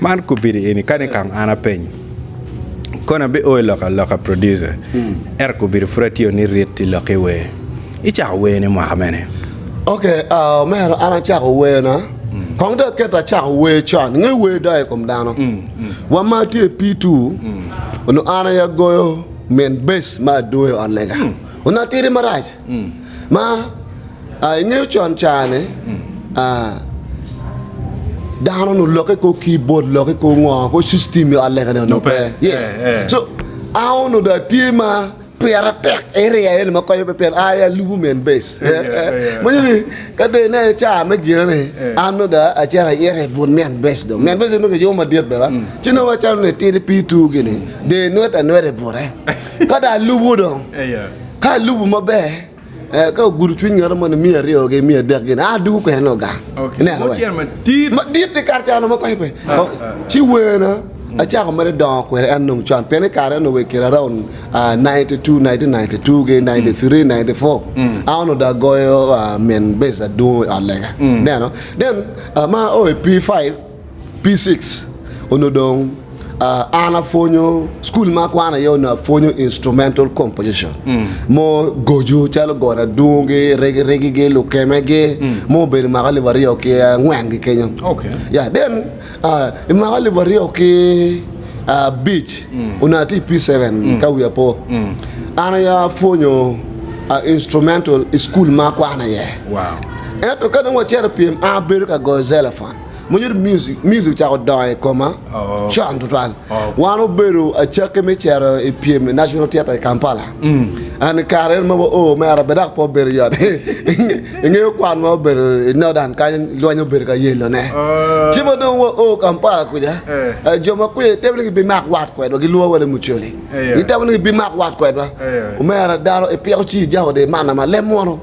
Man kubidi eni kadi nikang an apenyo koni abi oyo lok aloka producer ento kubidi pud atiyo ni rit ti lok ki wer. Icako wer ni mwaka mene? Ok aa omera an acako wer na kong dong aket acako wer con inge wer doyo ikom dano wa ma atye i P two onongo an aye agoyo min bass ma adwoyo i ot lega onongo atidi marac. ma ingeyo con cani dano onongo lokke kor kibod lokke kor ngo kor system me ot lega ni onongo pe yes so an onongo dong atye ma pira tek area eni ma konyo pe pien an aye alubo me en base imanyo ni ka dong ineno ca me gine ni an nongo dong acito ayito i but me en base dong me en base onongo kiyubo madit bene ci nongo macalo ni itidi pii ituwu gini dong inwet anweta i bute ka dong alubo dong Ka ilubo maber, ka ogudo cwiny ngete moni miya aryo gi miya adek gini, a dugo kwena nongo gang. Okay. Ineno Mo cel madit. Madit ni kar cano ma pe pe. Ah, ah. Ci werna acako mere dongo kwede en nong con pien i kare eno wer kira around uh, 92 1992 ge 93 94 a ono da goyo uh, men base adungo i ot lega neno then uh, ma o i P5 P6 onongo dong an apwonyo cukul ma akwana iye onongo apwonyo instrumental composition mo goco calo got adungi, rigirigigi, lukemegi ma obedo mwaka alip aryo ki angwen gi kenyo. Ya then i mwaka alip aryo ki abic onongo atye i P7 ka wiya po an aye apwonyo instrumental i cukul ma akwana iye. Ento ka dong wacito i pyem an abedo ka goyo xylophone. Mwonya music, music ocako dongo i koma con tutwal. Wan obedo acakki me cito i pyem i National Theatre i Kampala. And i kare eno ma wa oo mere bene dok pe obedo yot. Ingeyo kwan ma obedo i Northern kany lweny obedo ka yelo ne. Ci ma dong wa oo Kampala kuca, jo ma kuca gitemo ni gibimak wat kwedwa, gilwongo wa ni mucoli. Gitemo ni gibimak wat kwedwa. Omera dano ipiko ci ijako dye manna ma lem munu.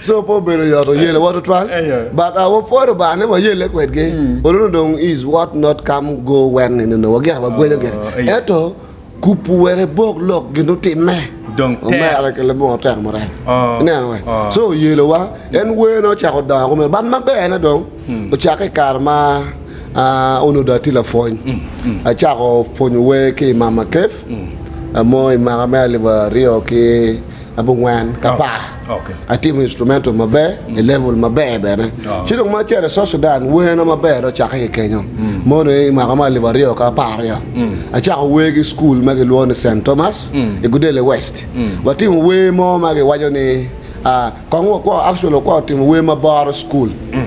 So pe obedo yot oyele wa tutwal but uh, wapwod Lubanga ni wayelle kwedgi onongo dong is what not come go when in onongo wagito wagwenyo gire ento kupu wek ibok lok gin utimme Dong tek. omera ki labongo tek maraya Oh. ineno we Oh. so oyelo wa en wene ocako dongo kumeno but maber ne dong ocake i kare ma ah, onongo dong atye lapwony acako pwonyo wer ki i mama kef mo i mwaka me alip aryo ki abongwen ka par Okay. Atimo instrumental maber, mm. i level maber bene. Oh. Ci dong ma acel i South Sudan, werna maber ocakke ki kenyo. Mm. Mono i mwaka ma alip aryo ka apar aryo. Mm. Acako wer ki skul ma gilwongo ni St. Thomas mm. i Gudele West. Mm. Watimo wer mo ma giwaco ni uh, kong wakwo actually wakwo timo wer ma boro skul. Mm.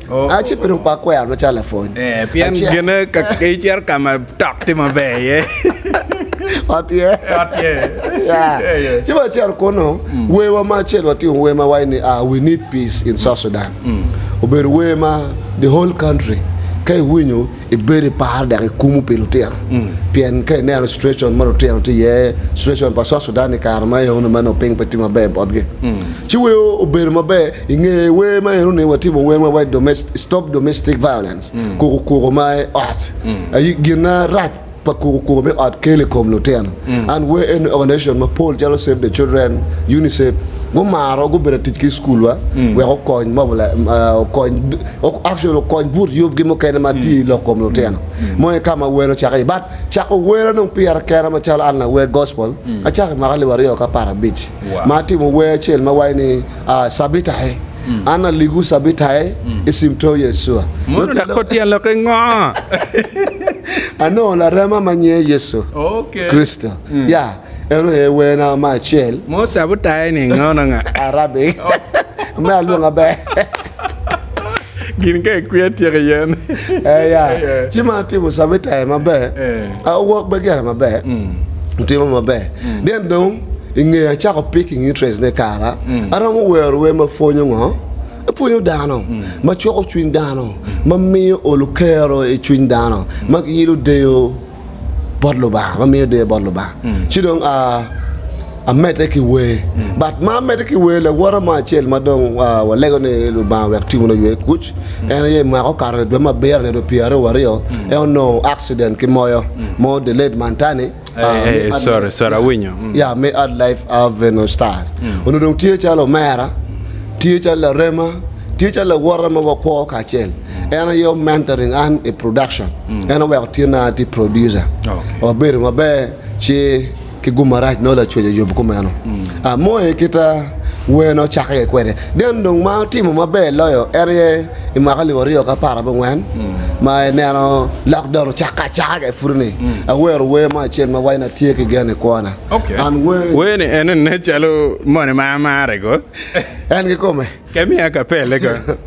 Aci pi ruk pa akwena macalo lapwony. Eh, pien Aci- gine ka icito ka ma tok tye maber iye. Ot ye. Ot ye. Ya. Eh, eh. Ci ba cero kunu, werwa ma acel watingo wer ma waco ni ah, we need peace in South Sudan. Obedo wer ma the whole country ka iwinyo Ibed iparo dok ikumu pi lutino pien ka ineno citwecon ma lutino tye iye, citwecon pa South Sudan i kare ma eno ni ma nongo piny pe tye maber botgi, ci weko obedo maber inge wer ma eno ni watimo wer ma waco Stop Domestic Violence, Kuku Kuku ma i Ot aye gin arac. pa kukukuku me ot kel i kom lutino. An wee en ni organization mapol calo Save the Children, UNICEF gumaro gubedo atic ki i skulwa wek okony actually okony but yubgi mukene ma tye i lok kom lutino. Mono ki ka ma wer ocako iye but cako wer adong pire kena macalo an lawer gospel acako i mwaka alip aryo ki apar abic ma atimo wer acel ma waco ni Sabita e. An aligu cabitae i cim to Yecua. Mono dok kor tyen lokke ngo? Anongo larema ma nyinge Yecu Kricito. Ya, en aye werna me acel. Mono cabitae ni ngo na nga? Arabic. Me alwonga ber. Gin ka i kwiya tyeko iye ni. Eh, ya. Ci ma atimo cabitae maber, awok be gire maber, atimo maber. Then dong. I nge acako picking interest ne kara, aromo wero wer ma pwonyo ngo? Epwonyo dano, ma cwako cwiny dano, ma miyo olo kero i cwiny dano, ma giilo deyo bot Lubanga, ma miyo deyo bot Lubanga. Ci dong a amedde ki wer. But ma amedde ki wer, lawote mo acel ma dong a walego ni Lubanga wek timwa oywe kuc, en aye i mwaka okato ni dwe ma abiro nyo dwe pyeraryo waryo, en onongo accident ki moyo, moyo delayed man tani, ya me ad Life Avenue Stars onongo dong tye calo omera, tye calo larema, tye calo lawote ma wakwo kacel. En aye o mentoring an i production, en oweko tyena atye producer. Wabedo maber ci ki gum marac nongo lacwec oyubo kumeno. Moe kita wer nongo ocakke kwede. Then dong ma otimo maber loyo en aye I mwaka alip aryo ki apar abongwen ma ineno lokdon ocakke acaka i pwodoni, awero wer mo acel ma waco ni Atye ki Gen i Kwona. Man wer-ri. Wer ni en nen calo moni ma amarre ko. En kikome. Ke miya akapelle ko.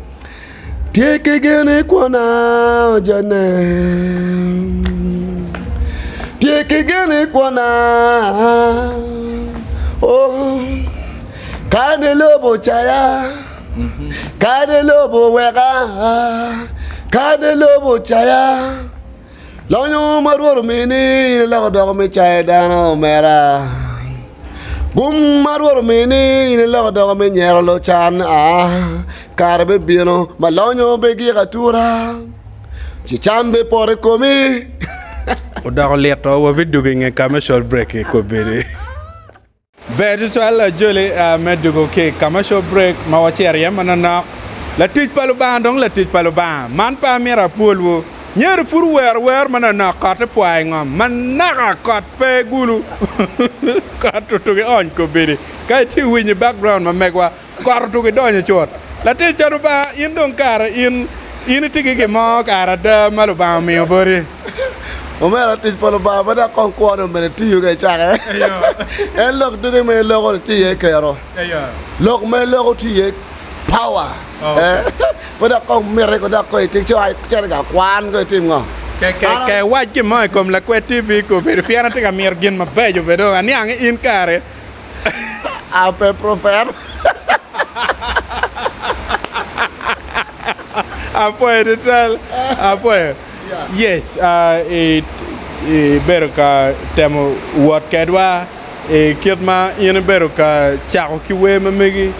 Tye ki gen i kwona ojone Tye ki gen i kwona oh, Kadi lobo ocaya Kadi lobo oweka, kadi lobo ocaya, lonyo ma Rwot omini in iloko odoko me cayo dano, omera. Gum ma Rwot omini in iloko odoko me nyero lucan, aa, kare bibino ma lonyo bigik atura, ci can bipot i komi. Odoko lit oo wabidwogo inge ka me col break kobedi. Ber tutwal ajoli me dwogo ki i commercial break ma wacito iye manonok. Latic pa Lubanga dong latic pa Lubanga. Man pe amito apwolwu. Nyero pud wuwero wer manonok kot i pwa i ngom manaka kot pe gulu kot tutugi ony kobedi ka itye winyo i background ma megwa. Got otugo idonyo cut. Latic ca Lubanga in dong kare in in itye ki gin mo kare ada ma Lubanga omiyo boti. Omera tic pa Lubanga ma dok kong kwone omene tiyo ka icake. En lok duge ma iloko ni tye iye kero. Lok ma iloko tye iye power. Ma dok kong miti ko dok ko itik ci ai cene ka kwan ko itim ngo. Ke iwac gin mo i kom lakwed TV ko bedo pien atye ka mito gin mabeco be dong aniang in kare ape profet. Apwoyo tutwal, apwoyo. Yes, ibedo ka temo wot kedwa i kit ma in ibedo ka cako ki wer ma megi.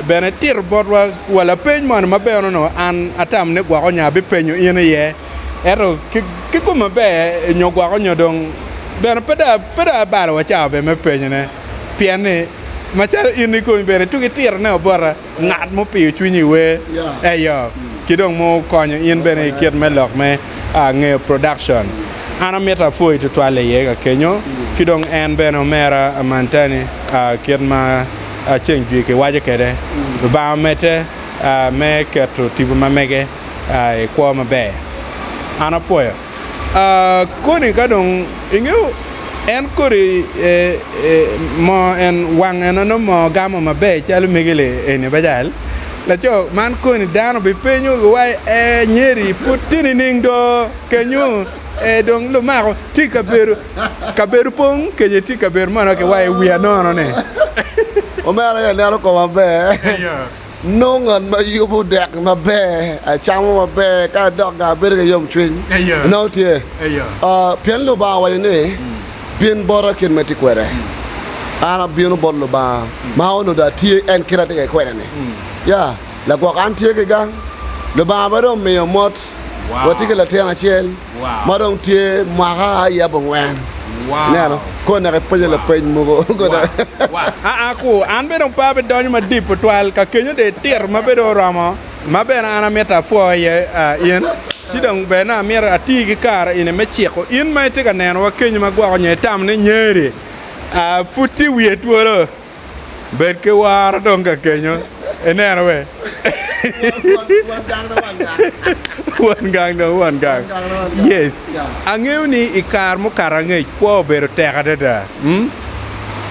Bene tito botwa wa lapeny moni ma bene onongo an atamo ni gwoko nya abipenyo in iye. Ento ki kom maber nyo gwoko nyo dong bene pe dong abalo wa cawa bene me penyone. Pien ni macalo in ikomi bene tuk itiro ne wa bota ngat mupiyo cwinyi i wer eyo ki dong mukonyo in bene i kit me lok me ngeyo production. An amito apwoyi twatwal iye ka kenyo ki dong en bene omera Amanta ni kit ma ceng jwi ki waco kwede Lubanga omedde me keto tipo ma mege. i kwo maber. An apwoyo. Ah, kodi ka dong ingeyo en kodi e, e, moo en wang en nongo moo gamo maber calo migili eni bajal. Laco man koni dano bipenyo wa e nyeri pud tye nining do kenyo e dong lumako tye kabedo kabedo pong kenyo tye kabedo mono kiwayo wiya nono ni. Omera ya neno koma maber. Nongo ngat ma yubo dek maber, acamo maber, ka adok-ga abedo ki yomcwiny. Inongo tye? Pien Lubanga owaco ni, 'Bin bota kit ma itye kwede. An abino bot Lubanga ma onongo dong atye en kit ma atye kede kwede-ni. Ya, lagwok, an tye ki gang. Lubanga pe dong omiyo mot. Watye ki latin acel. ma dong tye mwaka aye abongwen ineno koo naka ipenyo lapeny mogo aa ku an bene opaa pe donyo madip tutwal ka kenyo dye tito ma bedo oromo ma bene an amito apwo iye in ci dong ber nongo amito atii ki kare eni me ciko in ma itye ka nenowa kenyo ma gwoko nyo itam ni nyeri pud tye wiye twolo Bed ki woro dong ka kenyo ineno be. Won gang dong won gang. Yes. Angeyo ni i kar mukato angec kwo obedo tek adada. Hmm?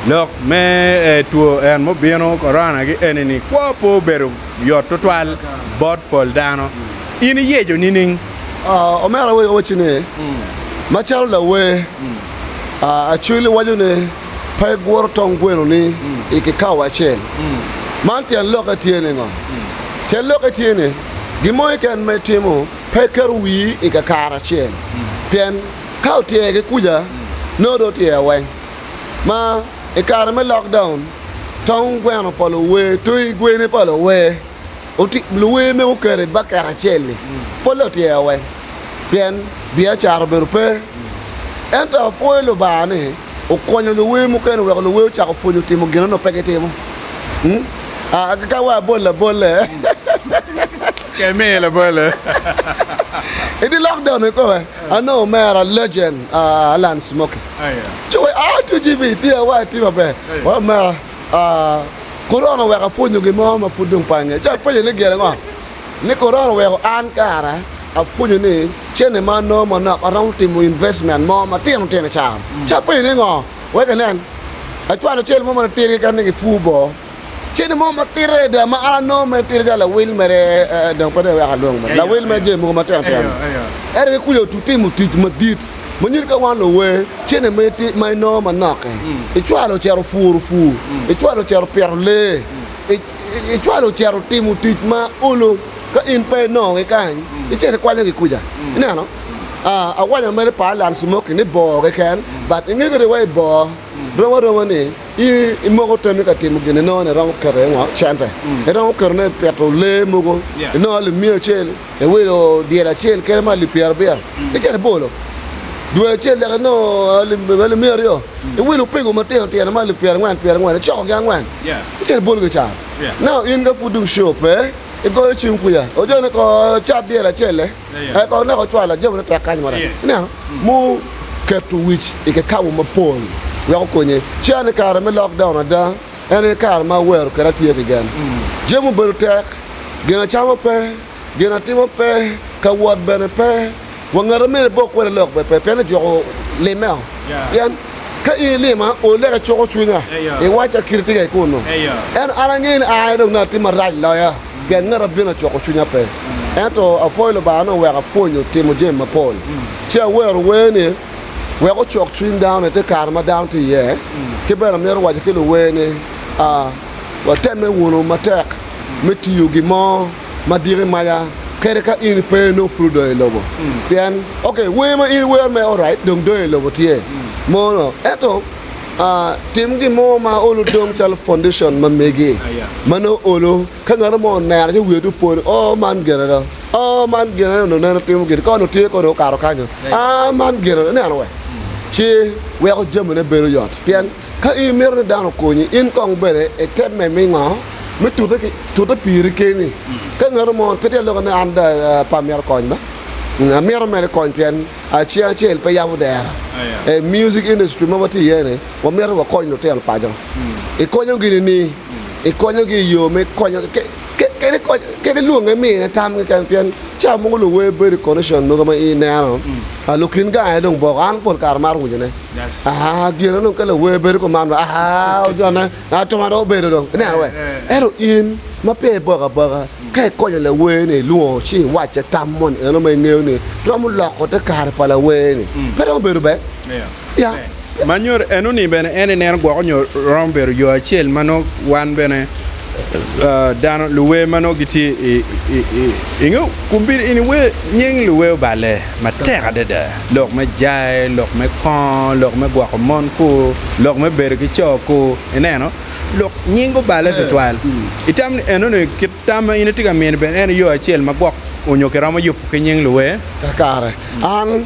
Lok me eh, two en mubino korona gi eni ni kwo po obedo yot tutwal bot pol dano. In iyeco nining? Ah, omera wacci ni, macalo lawer ah, Acwili waco ni, pe guro tong gwenoni i kikapo acel. Man tyen lokke tye ni ngo? Tyen lokke tye ni, gin mo keken ma itimo pe iketo wii i kakare acel, pien ka otyer ki kuca, nongo dong otyer weng. Ma i kare me lockdown, tong gweno pa luwer, toyi gweni pa luwer, luwer mego oketo i baket acel-li, polle otyer weng, pien biacara obedo pe. Ento apwoyo Lubanga ni Okonyo luwer mukene oweko luwer ocako pwonyo timo gin onongo pe gitimo. Ka wa abol labolle. I dye lockdown ni kong anongo omera legend Allan Smokie ci owaco, Aa TGV tye awa tye maber. Awaco omera, Korona oweko apwonyo gin mo ma pud dong pe angeyo. Ci apenye ni gire ngo? Ni korona oweko an kara apwonyo ni cene ma anongo manok aromo timo investment mo matino tino can. Ci apenyo ni ngo? Wek inen. Acwalo cel mo ma latir keken ni gipur boo. Cene mo matir adada ma an anongo mere tira calo lawil mere dong pe dong iwek alwong mere lawil mere jami mogo matino tino. Ento ki kuca otimo tic madit ma nyuto ka wan luwe cene ma inongo manok-ki icwalo ocito puro pur, icwalo ocito pito lee, Icwalo ocito timo tic ma olo ka in pe inongo kikany, icito ikwanyo gikuca. Ineno? Ah, awanyo mere pa Alan Smoky ni bor keken, but inge kadi wa i bor rom aroma ni i imoko temi ka timo gin inongo ni iromo keto iye ngo? Cente. Iromo ketone i pito lee mogo, inongo limiya acel, Iwilo dyela acel kene ma alip pyerabiya ki cente aboro. Dwe acel dok inongo alip miya aryo. Iwilo opego matino tino ma alip pyerangwen pyerangwen, icokogi angwen ki cente aboro gicaro. Nao in ka pud dong coo pe, igoyo cim kwiya, ojone ko cat dyela acel-le, aye kong ineko cwalo jami nitek kany mo dok. Ineno? Muu keto wic i kikabu mapol wek okonye. Ci aneno kare me lockdown ada. En aye kare ma awero kadi atye ki gen. Jami obedo tek, gin acamo pe, gin atimo pe, ka wot bene pe, wa ngat ma myero ibok kwede lok bene pe, pien ejwoko limeo. Pien ka in ilima, oleka icuko cwinya, iwacca kite tye kek kunnu. Ento an angeyo ni aye dong nongo atye marac loya, pien ngat ma bino acuko cwinya pe. Ento apwoyo Lubanga ni oweka apwonyo timo jami mapol. Ci awero wer ni. wek ocok cwiny dano i te kare ma dano tye iye. Ki bene omyero owaci ki luwer ni, Watemme wunu matek me tiyo gin mo ma diko i maca kadi ka in pe inongo pud odongo i lobo. Pien, ok, wer ma in iwero mere orait dong dongi i lobo tye mono, ento tim gin mo ma olo dong calo foundation ma megi ma nongo olo. Ka ngat mo oneno ci wiye dong po ni, 'Oo, man gin ada! Oo, man gin ada onongo neno timo gini, ka onongo tye kong onongo okato kanyo. Aa, man gin ada! Ineno wek? Ci weko jamine bedo yot. Pien ka in imito ni dano okonyi, in kong bene itemme me ngo? Me tute ki tute piri keni. Ka ngat mo pe tye ka loko ni an pe amito kony ba, amito mere kony pien cing acel pe yabo dero. I music industry ma watye iye-ni, wamito wakony lutino paco. Ikonyo gini ni? ikonyogi i yo me konyo kadi lwonge mine tam keken pien cawa mogo luwer bedo i condition mogo ma in ineno lukin gange dong boko an pol kare amaro winyo ne aa gin onongo ka lawer bedo kuman wa aa ojone atoma dong obedo dong ineno wee ento in ma peya iboko aboka ka ikonyo lawer ni ilwongo ci iwacce tam moni eno ma ingeyo ni romo loko te kare pa lawer ni pe dong obedo ber Ma nyuto eno ni bene en ineno gwoko nyo romo bedo yo acel ma nongo wan bene dano luwe ma nongo gitye inge kubin ini we nying luwe oballe matek adada lok me jae lok me kongo lok me gwoko mon ku lok me bedo ki co ku ineno lok nying oballe tutwal itam ni eno ni kit tam ma in itye ka mini bene en yo acel ma gwok onyo kiromo yubo ki nying luwe kakare an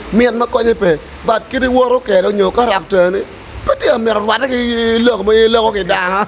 Mit ma konye pe, but kit iwoto kede onyo karakta ne pe tye ka mito rwate ki lok ma in iloko ki dano.